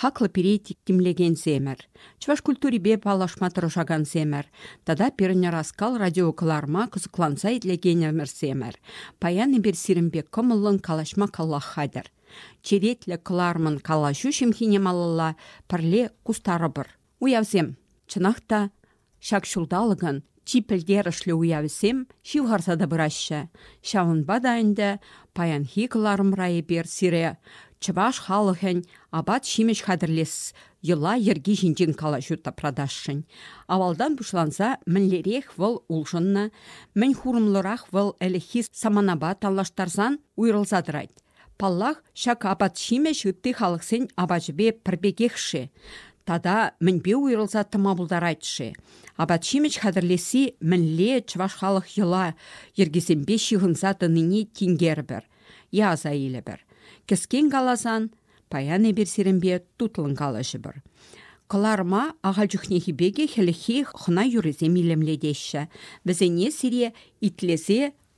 Хаклӑ пире тимлекенсемӗр, чӑваш культурипе паллашма тӑрӑшакансемӗр тата пирӗн ӑраскал радиокӑларӑма кӑсӑкланса итлекенӗмӗрсемӗр, паян эпир сирӗн пек кӑмӑллӑн калаҫма каллах хатӗр. Черетлӗ кӑларӑмӑн калаҫу ҫӑмхине малалла пӗрле кустарӑпӑр. Уявсем, чӑнах та, ҫак ҫулталӑкӑн чи пӗлтерӗшлӗ уявӗсем ҫывхарса та пыраҫҫӗ. Ҫавӑнпа та ӗнтӗ паянхи кӑларӑм ра эпир сире чӑваш халӑхӗн апат-ҫимӗҫ хатӗрлес йӑла-йӗрки ҫинчен калаҫу тапратасшӑн. Авалтан пуҫланса мӗнлерех вӑл улшӑннӑ, мӗн хурӑмлӑрах вӑл ӗлӗкхи саманапа танлаштарсан уйрӑлса тӑрать. Паллах, ҫак апат-ҫимӗҫ ытти халӑхсен апачӗпе пӗр пекех-ши тата мӗнпе уйрӑлса тӑма пултарать-ши? Апат-ҫимӗҫ хатӗрлесси мӗнле чӑваш халӑх йӑла йӗркисемпе ҫыхӑнса тӑнине тинкерӗпӗр е аса илӗпӗр. Кӗскен каласан, паян эпир сирӗнпе тутлӑн калаҫӑпӑр. Кӑларӑма ахаль чухнехи пекех хӗлӗххи хӑна юррисем илемлетеҫҫӗ. Вӗсене сире итлесе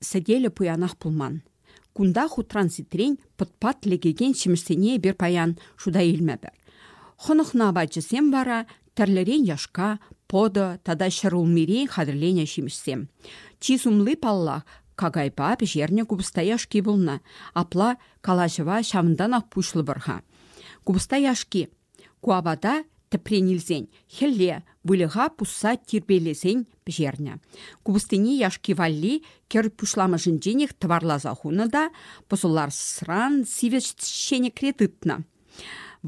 сӗтелӗ пуянах пулман. Кунта хутран-ситрен пӑтпат лекекен ҫимӗҫсене эпир паян шута илмӗпӗр. Хӑнӑхнӑ апатҫӑсем вара тӗрлӗрен яшка, пӑтӑ тата ҫӗр улмирен хатӗрленӗ ҫимӗҫсем. Чи сумли, паллах, какайпа пӗҫернӗ купӑста яшки пулнӑ. Апла калаҫӑва ҫавӑнтанах пуҫлӑпӑр-ха. Купӑста яшки Ку апата тӗпрен илсен хӗлле выльӑха пусса тирпейлесен пӗҫернӗ. Купӑстине яшки валли кӗр пуҫламӑшӗнченех тӑварласа хунӑ та пӑсӑларсран сивӗ ҫенӗкре тытнӑ.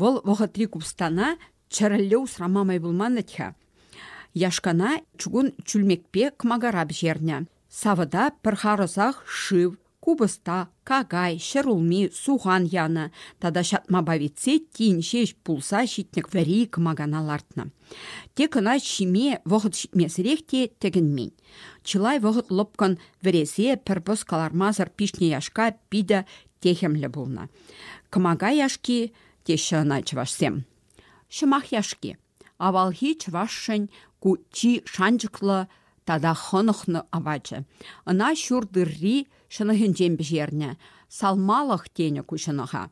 Вӑл вӑхӑтри купӑстана чӗрӗлле усрама май пулман-тӗ-ха. Яшкана чугун чӳлмекпе кӑмакара пӗҫернӗ. Савӑта пӗр харӑсах шыв, Купӑста, какай, ҫӗрулми, сухан янӑ тата ҫатмапа витсе тин ҫеҫ пулса ҫитнӗ вӗри кӑмакана лартнӑ. Те кӑна ҫиме вӑхӑт ҫитмесӗрех те тӗкӗнмен. Чылай вӑхӑт лӑпкӑн вӗресе пӗр пӑс кӑлармасӑр пиҫнӗ яшка питӗ техӗмлӗ пулнӑ. Кӑмака яшки теҫҫӗ ӑна чӑвашсем. Ҫӑмах яшки Авалхи чӑвашшӗн ку чи шанчӑклӑ тата хӑнӑхнӑ апачӗ. Ӑна ҫур тырри ҫӑнӑхӗнчен пӗҫернӗ. Салмалӑх тенӗ ку ҫӑнӑха.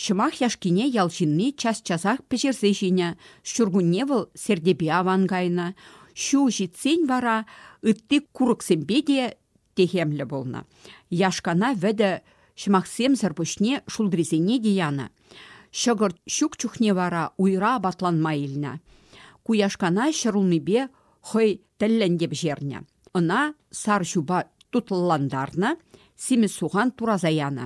Ҫӑмах яшкине ял ҫынни час-часах пӗҫерсе ҫинӗ. Ҫуркунне вӑл сертепе аван кайнӑ. Ҫу ҫитсен вара ытти курӑксемпе те техемлӗ пулнӑ. Яшкана вӗтӗ ҫӑмахсемсӗр пуҫне шултрисене те янӑ. Ҫӑкӑрт ҫук чухне вара уйра апатланма илнӗ. Ку яшкана ҫӗрулмипе хӑй тӗллӗн те пӗҫернӗ. Ӑна сар ҫупа тутлӑлантарнӑ, симӗс сухан тураса янӑ.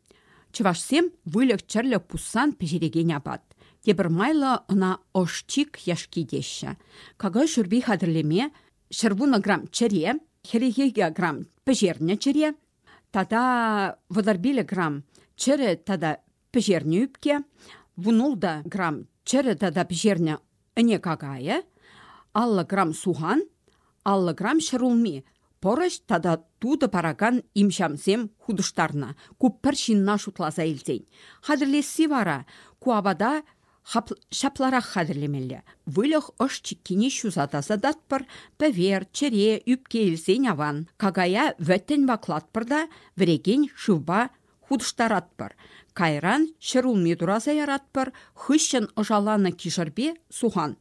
Чӑвашсем выльӑх-чӗрлӗх пуссан пӗҫерекен апат. Тепӗр майлӑ ӑна ӑшчик яшки теҫҫӗ. Какай шӳрпи хатӗрлеме ҫӗрвунӑ грамм чӗре, хӗлӗхе грамм пӗҫернӗ чӗре тата вӑтӑрпилӗ грамм чӗрӗ тата пӗҫернӗ ӳпке, вунулта грамм чӗрӗ тата пӗҫернӗ Ӗне какайӗ, аллӑ грамм сухан, аллӑ грамм ҫӗрулми, пӑрӑҫ тата тутӑ паракан имҫамсем хутӑштарнӑ, ку пӗр ҫынна шутласа илсен. Хатӗрлесси вара ку апата ҫапларах хатӗрлемелле. Выльӑх ӑш чиккине ҫуса тасататпӑр, пӗвер, чӗре, ӳпке илсен аван. Какая вӗттӗн ваклатпӑр та вӗрекен шывпа хутӑштаратпӑр. Кайран ҫӗр улми тураса яратпӑр, хыҫҫӑн ӑшаланӑ кишӗрпе сухан.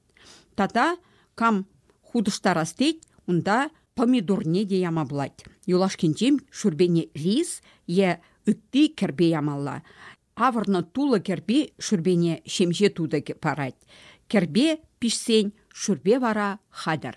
Тата кам хутӑштарас тет, унта помидорне те яма пулать. Юлашкинчен шӳрпене рис е ытти кӗрпе ямалла. Авӑрнӑ тулӑ кӗрпи шӳрпене ҫемҫе тутӑ парать. Кӗрпе пиҫсен шӳрпе вара хатӗр.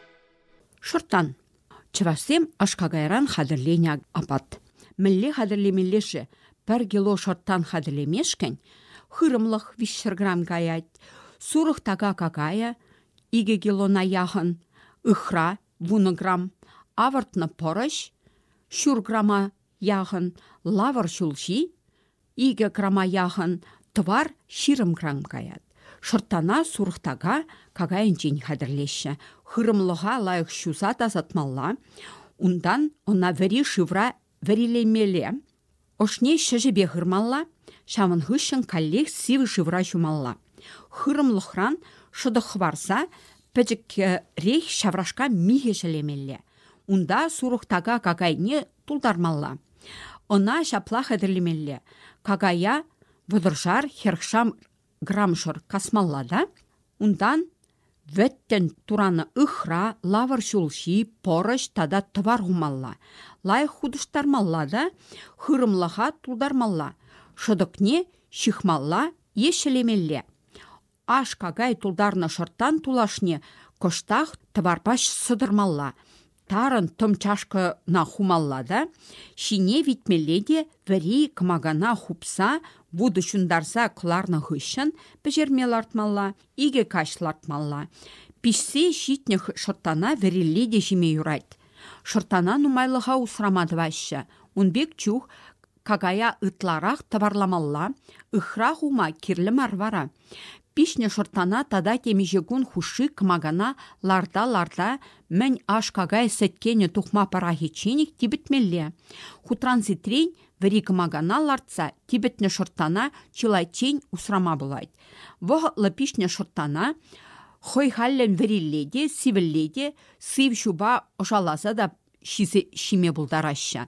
Шӑрттан. Чӑвашсем аш-какайран хатӗрленӗ апат. Мӗнле хатӗрлемелле-ши? Пӗр кило шӑрттан хатӗрлемешкӗн хырӑмлӑх 200 грамм каять, сурӑх така какая икӗ килона яхӑн, ыхра вунӑ грамм, авӑртнӑ пӑрӑҫ ҫур грамма яхӑн, лавӑр ҫулҫи Икӗ крама яхӑн тӑвар ҫирӗмкран каять. Шӑрттана сурӑхтака какайӗнчен хатӗрлеҫҫӗ. Хырӑмлӑха лайӑх ҫуса тасатмалла. Унтан ӑна вӗри шывра вӗрилемелле. Ӑшне ҫӗҫӗпе хырмалла. Ҫавӑн хыҫҫӑн каллех сивӗ шывра ҫумалла. Хырӑмлӑхран шӑтӑк хӑварса пӗчӗкрех ҫаврашка михӗ ҫӗлемелле. Унта сурӑхтака какайне тултармалла. Ӑна ҫапла хатӗрлемелле. Какая вӑтӑршар хӗрхшам грамшӑр касмалла та унтан вӗттӗн туранӑ ыхра, лавӑр ҫулҫи, пӑрӑҫ тата тӑвар хумалла. Лайӑх хутӑштармалла та хырӑмлӑха тултармалла. Шӑтӑкне ҫыхмалла е ҫӗлемелле. Аш-какай тултарнӑ шӑрттан тулашне кӑштах тӑварпаҫ сӑтӑрмалла, тарӑн тӑм чашкӑна хумалла та ҫине витмелле те вӗри кӑмакана хупса вутӑ ҫунтарса кӑларнӑ хыҫҫӑн пӗҫерме лартмалла, икӗ каҫ лартмалла. Пиҫсе ҫитнӗ шӑрттана вӗрилле те ҫиме юрать. Шӑрттана нумайлӑха усрама тӑваҫҫӗ. Ун пек чух Какая ытларах тӑварламалла, ыхра хума кирлӗ мар вара. Пиҫнӗ шӑрттана тата темиҫе кун хушши кӑмакана ларта-ларта мӗн аш-какай сӗткенӗ тухма пӑрахичченех типӗтмелле. Хутран-ситрен вӗри кӑмакана лартса типӗтнӗ шӑрттана чылайччен усрама пулать. Вӑхӑтлӑ пиҫнӗ шӑрттана хӑй хальлӗн вӗрилле те, сивӗлле те, сыв ҫупа ӑшаласа та ҫиме пултараҫҫӗ.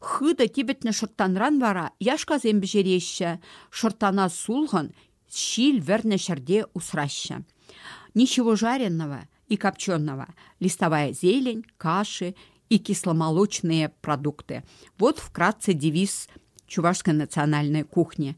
Хытӑ типӗтнӗ шӑрттанран вара яшкасем пӗҫереҫҫӗ, шӑрттана сулхӑн ҫил вӗрнӗ ҫӗрте усраҫҫӗ. Ничевожаренного и копченого, листовая зелень, каши и кисломолочные продукты. Вот вкратце девиз чувашской национальной кухни.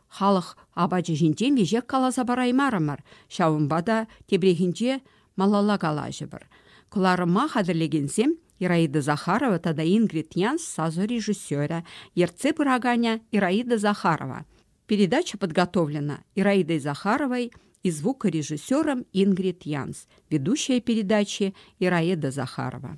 Халӑх апачӗ ҫинчен веҫех каласа параймарӑмӑр, ҫавӑнпа та тепрехинче малалла калаҫӑпӑр. Кӑларӑма хатӗрлекенсем Ираида Захарова тата Ингрид Нянс сасӑ режиссерӗ, ертсе пыраканӗ Ираида Захарова. Передача подготовлена Ираидой Захаровой и звукорежиссером Ингрид Янс, ведущая передачи Ираида Захарова.